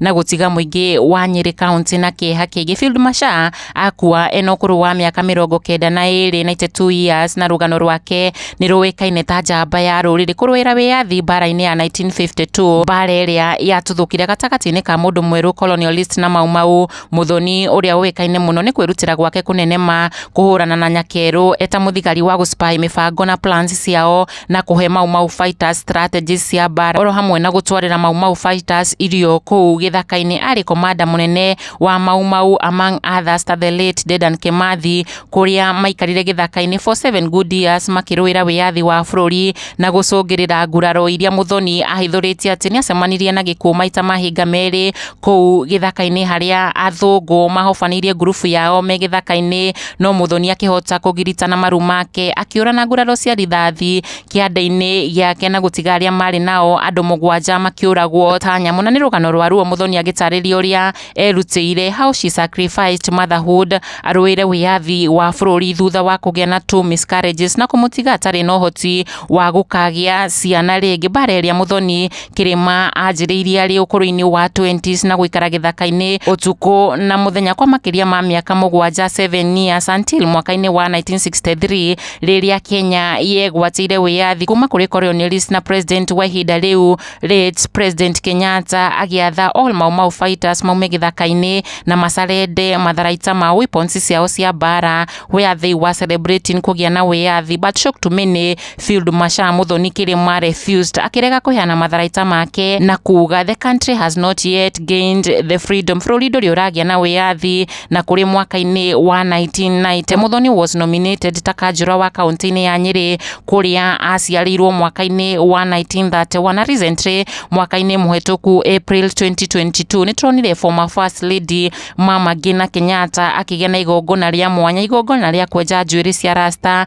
na gũtiga mũingĩ wa Nyĩrĩ kaunti na kĩeha kĩingĩ. Field Marshal akua ena ũkũrũ wa mĩaka mĩrongo kenda na ĩrĩ 92 years na rũgano rwake nĩ rũĩkaine ta njamba ya rũrĩrĩ kũrũĩra wĩyathi mbara-inĩ ya 1952 mbara ĩrĩa yatuthũkire gatagatĩ-inĩ ka mũndũ mwerũ colonialist na Mau Mau Mũthoni ũrĩa ũĩkaine mũno nĩ kwĩrutĩra gwake kũnenema kũhũrana na Nyakerũ eta mũthigari wa gũspy mĩbango na plans ciao na kũhe Mau Mau Fighters strategies cia mbaara oro hamwe na gũtwarĩra Mau Mau Fighters irio kũu gĩthaka-inĩ arĩ komanda mũnene wa Mau Mau among others ta the late Dedan Kimathi kũrĩa maikarire gĩthaka-inĩ for seven good years makĩrũĩra wĩyathi wa bũrũri na gũcũngĩrĩra nguraro iria Muthoni ahithũrĩtie atĩ nĩacemanirie na gĩkuũ maita mahinga merĩ kũu gĩthaka-inĩ harĩa athũngũ mahobanĩirie ngurubu yao me gĩthaka-inĩ no Muthoni akĩhota kũgirita na maru make akĩũra na nguraro cia rithathi kĩande-inĩ gĩake na gũtiga arĩa marĩ nao andũ mũgwanja makĩũragwo ta nyamũ na nĩ rũgano rwa ruo Muthoni agĩtarĩria ũrĩa erutĩire how she sacrificed motherhood arũĩre wĩyathi wa bũrũri thutha wa kũgĩa na two miscarriages na kũmũtiga atarĩ na ũhoti wa gũkagĩa ciana rĩngĩ mbara ĩrĩa Muthoni kĩrĩma anjĩrĩirie arĩ ũkũrũ-inĩ wa 20s na gũikara gĩthaka-inĩ ũtukũ na mũthenya kwa makĩria ma mĩaka mũgwanja 7 years until mwaka-inĩ wa 1963 rĩrĩa Kenya yegwatĩire wĩyathi kuma kũrĩ colonialist na president wa ihinda rĩu late president Kenyatta agĩatha all Mau Mau fighters maume gĩthaka-inĩ na macarende matharaita ma weapons ciao cia mbara where they were celebrating kũgĩa na wĩyathi but shock to many Field Marshal Muthoni Kirima refused akirega kuheana matharaita make na kuga the country has not yet gained the freedom bũrũri ndũrĩ ũragĩa na wĩyathi na kũrĩ mwaka-inĩ wa 1990 Muthoni was nominated ta kanjũra wa kaunti-inĩ ya Nyeri kũrĩa aciarĩirwo mwaka-inĩ wa 1931 na recently mwaka-inĩ mũhetũku April 2022 nĩ turonire former first lady mama Ngina Kenyatta akĩgĩa na igongona rĩa mwanya igongona rĩa kwenja njuĩrĩ cia rasta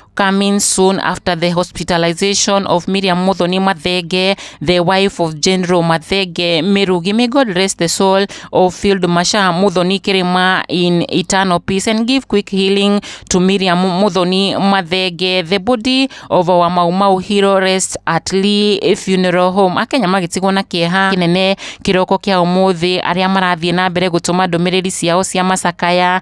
coming soon after the hospitalization of Miriam Muthoni Mathenge, the wife of General Mathenge Mirugi. May God rest the soul of Field Marshal Muthoni Kirima in eternal peace and give quick healing to Miriam Muthoni Mathenge. The body of our Mau Mau hero rests at Lee Funeral Home. Akenya magĩtigwo na kĩeha kĩnene kĩroko kĩa ũmũthĩ arĩa marathiĩ na mbere gũtũma ndũmĩrĩri ciao cia macakaya